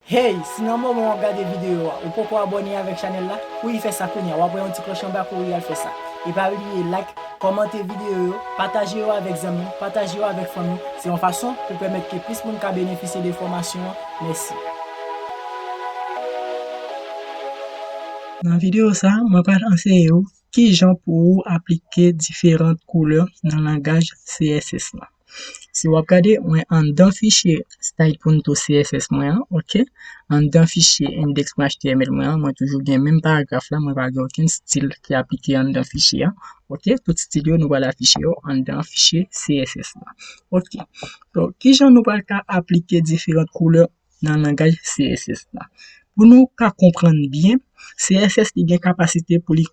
Hey, si nan moman wap gade video a ou poko abone avek chanel la, kouri fè sa kounya, wap wè yon ti kloch anba kouri al fè sa. E pa bliye like, kòmante video yo, pataje yo avek zanmi, pataje yo avek fanmi, se yon fason pou pèmèt ke plis moun ka benefisye de fòmasyon an, mèsi. Nan video sa, mwen pral anseye ou kijan pou ou aplike diferant koulè nan langaj CSS lan. Si w ap gade, mwen anndan fichye stylepunto.css mwen an, ok, anndan fichye index.html mwen an, mwen toujou gen menm paragraf la, mwen pa gen okenn stil ki aplike anndan fichye a, ok. Tout stil yo nou pral afiche yo anndan fichye CSS la, ok. Donk, ki jan nou pral ka aplike diferant koulè nan langaj CSS la? Pou nou ka konprann byen, CSS li gen kapasite pou li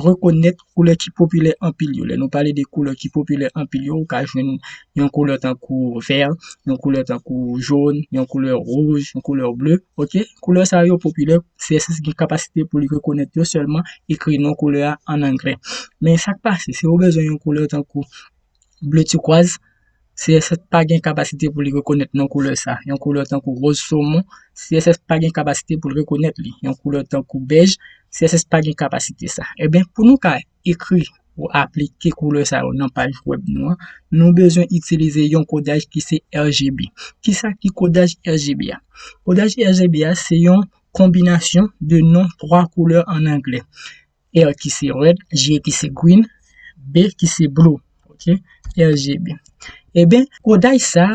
rekonèt koulè ki popilè anpil yo. Lè nou pale de koulè ki popilè anpil yo, ou ka jwenn yon koulè tankou vè, yon koulè tankou jòn, yon koulè wouj, yon koulè ble, ok. Koulè sa yo popilè, CSS gen kapasite pou li rekonèt yo sèlman ekri non koulè a an anglè. Men sa k pase, si ou bezwen yon koulè tankou. ble tikwaz, CSS pa gen kapasite pou li rekonèt non koulè sa. Yon koulè tankou roz somon, CSS pa gen kapasite pou l rekonèt li. Yon koulè tankou bèj, CSS pa gen kapasite sa. Eben, pou nou ka ekri ou aplike koulè sa yo nan paj wèb nou an, nou bezwen itilize yon kodaj ki se RGB. Ki sa ki kodaj RGB a? Kodaj RGB a se yon konbinasyon de non 3 koulè an anglè. R ki se red, G ki se green, B ki se blue, ok, RGB. Eben, eh kodaj sa,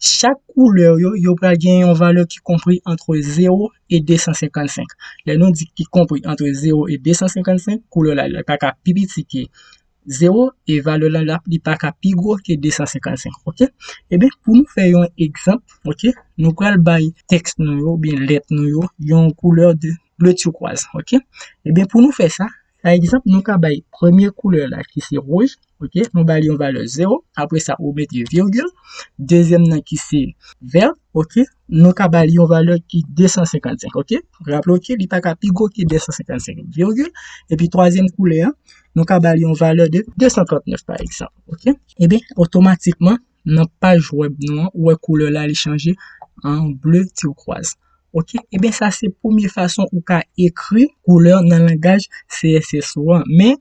chak koulè yo, yo pral gen yon valè ki konpri antre 0 e 255. Lè nou di ki konpri antre 0 e 255, koulè la, li pa ka pi piti ke 0 e valè lan lap li pa ka pi gwo ke 255 ok e ben pou nou fè yon egzanp ok nou pral bay tèks nou yo ou byen lèt nou yo yon koulè de ble tyoukòz ok e ben pou nou fè sa pa egzanp nou ka bay premye koulè la ki se wouj ok nou ba li yon valè 0 apre sa ou mete virgil dezyèm nan ki se vèt ok Nou ka ba li yon valè ki 255, ok? Raple w ke li pa ka pi gwo ke 255 virgil. Epi twazyèm koulè an, nou ka ba li yon valè de 239 pa egzanp, ok? Ebyen, otomatikman, nan paj wèb nou an, ou wè koulè la li chanje an ble tiwkwaz, ok? Ebyen, sa se premye fason ou ka ekri koulè nan langaj CSS ou an. Men,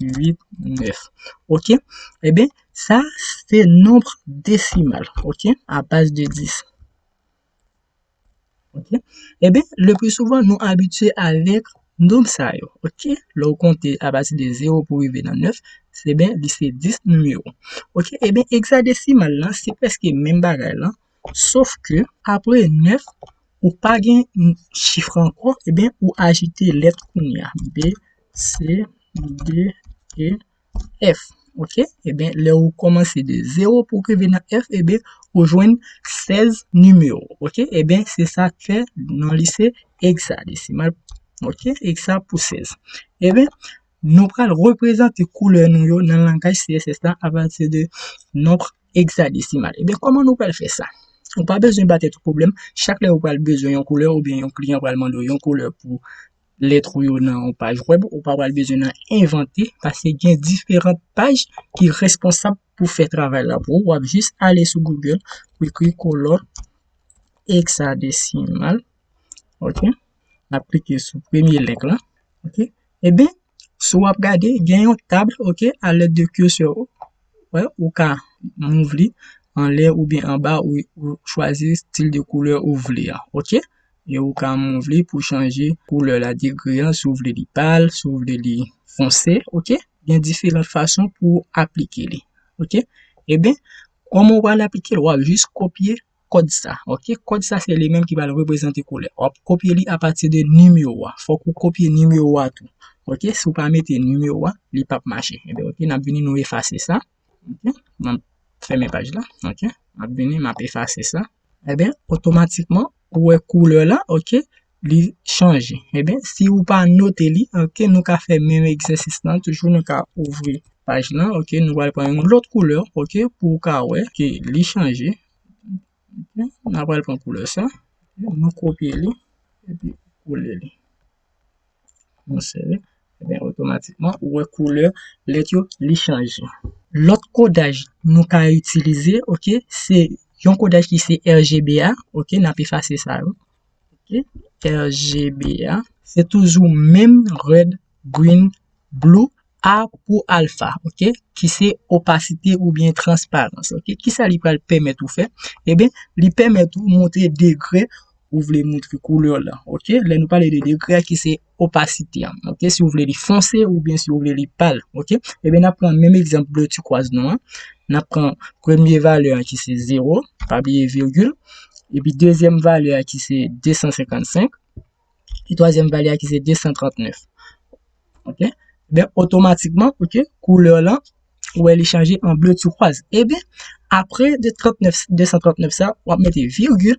8, 9. Ok. Eben, sa se nombre desimal. Ok. A base de 10. Ok. Eben, le plus souvent, nou abitye avek nombre sa yo. Ok. Le ou konte a base de 0 pou rive nan 9, se ben, li se 10 numero. Ok. Eben, hexadesimal la, se preske men bagay la. Sof ke apre 9 ou pa gen chif ankò ebyen ou ajoute lèt kounya B, C, D, E, F ok ebyen lè ou kòmanse de 0 pou rive nan F ebyen ou jwenn 16 nimewo ok ebyen se sa k fè non li se egzadesimal ok egza pou 16 ebyen nou pral reprezante koulè nou yo nan langaj CSS la apati de nonb egzadesimal. Ebyen, kòman nou pral fè sa? Ou pa bezwen ba tèt ou pwoblèm, chak lè ou pral bezwen yon koulè oubyen yon kliyan pral mande w yon koulè pou lèt ou yo nan yon paj wèb, ou pa pral bezwen nan envante paske gen diferan paj ki responsab pou fè travay la pou ou. W ap jis ale sou Google, ou ekri kolòn egzadesimal, ok, n ap klike sou premye lenk la, ok. Ebyen. Si w ap gade, gen yon tab ok, a lèd de kirsè ou, wè, ou ka move li anlè oubyen anba, ou chwazi stil de koulè ou vle a, ok. E ou ka move li pou chanje koulè la, degre an, si w vle li pal, si w vle li fonse, ok. Gen diferan fason pou aplike li, ok. Eben, kòman w pral aplike li? Wap jis kopye Kòd sa, ok. Kòd sa se li menm ki pral reprezante koulè. Wap kopye li apati de nimewo a. Fòk ou kopye nimewo a tou. Ok, si ou pa mete nimewo a, li pap mache. Ebyen ok, nap vini nou efase sa. Ok, mwen fèmen paj la. Ok, map vini, map efase sa. Ebyen, otomatikman, ou wè koulè la, ok. li chanje. Eben, si ou pa note li, ok, nou ka fè menm egzèsis lan toujou, nou ka ouvri paj lan, ok, nou pral pran yon lòt koulè, ok, pou ou ka wè ke li chanje. N a pral pran koulè sa, nou kopye li, epi kole li. Nou sèvi, eben, otomatikman, ou wè koulè lèt yo li chanje. Lòt kodaj nou ka itilize, ok, se yon kodaj ki se RGBA, ok, n ap efase sa yo. RGBA se toujou menm red, green, blue A pou alpha ok ki se opasite oubyen transparans ok ki sa li pral pèmèt ou fè eben li pèmèt ou montre degre ou vle montre koulè w lan ok lè nou pale de degre a ki se opasite an ok si ou vle li fonse oubyen si ou vle li pal ok ebyen nap pran menm egzanp bleu turquoise nou an nap pran premye valè an ki se 0 pa bliye virgil epi dezyèm valè an ki se 255 epi twazyèm valè an ki se 239 ok ebyen otomatikman ok koulè lan ou wè li chanje an bleu turquoise eben aprè 239 sa wap mete virgule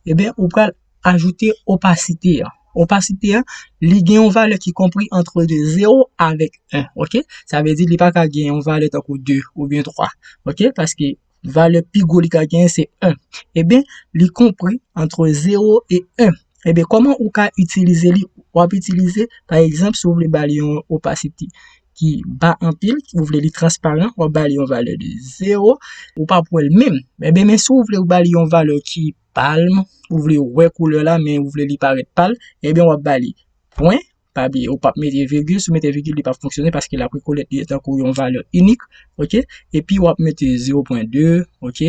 eben ou pral ajoute opasite an opasite an li gen yon valè ki konpri antre 0 avèk 1 ok sa vle di li paka gen yon valè tankou 2 oubyen 3 ok paske valè pi gwo li ka genyen se 1. Ebyen, li konpri antre 0 e 1. Ebyen, kòman ou ka itilize li? Ou ap itilize, pa egzanp, si ou vle ba li yon opasite ki ba anpil, ou vle li transparan, ou ap ba li yon valè de 0, ou pa pou wè l menm. Ebyen, men si ou vle ou ba li yon valè ki palm, ou vle wè koulè la, men ou vle li parèt pal, ebyen ou ap ba li pwen, Pa bliye ou pap mete virgil, si w mete virgil li pap fonksyone paske lap rekonèt li tankou yon valè inik, ok, epi wap mete 0.2 ok,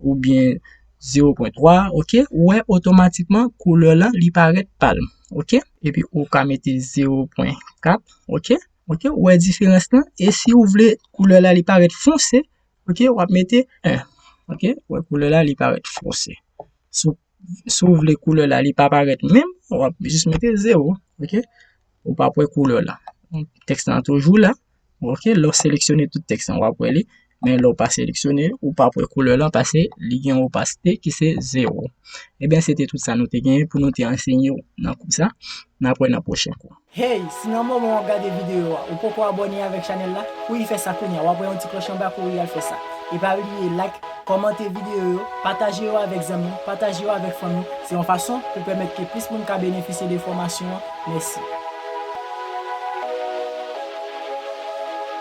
oubyen 0.3 ok, ou wè otomatikman koulè lan li parèt pal, ok, epi ou ka mete 0.4 ok, ok, ou wè diferans lan, e si ou vle koulè la li parèt fonse, ok, wap mete 1, ok, ou wè koulè la li parèt fonse. si ou vle koulè la li pa parèt menm ou ap jis mete 0 ok ou pap wè koulè la tèks lan toujou la ok lè ou seleksyone tout tèks lan wap wè li men lè ou pa seleksyone ou pap wè koulè lan paske li gen yon opasite ki se 0 ebyen se te tout sa nou te genyen pou nou te ansenyew nan kou sa nap wè nan pwochen kou. Hey, si nan moman wap gade video a ou poko abone avek chanel la, kouri fè sa kounya, wap wè yon ti kloch anba kouri al fè sa. E pa bliye like, komante video yo, pataje yo avek zanmiw, pataje yo avek fanmiw, se yon fason pou pèmèt ke plis moun ka benefisye de fòmasyon an, mèsi.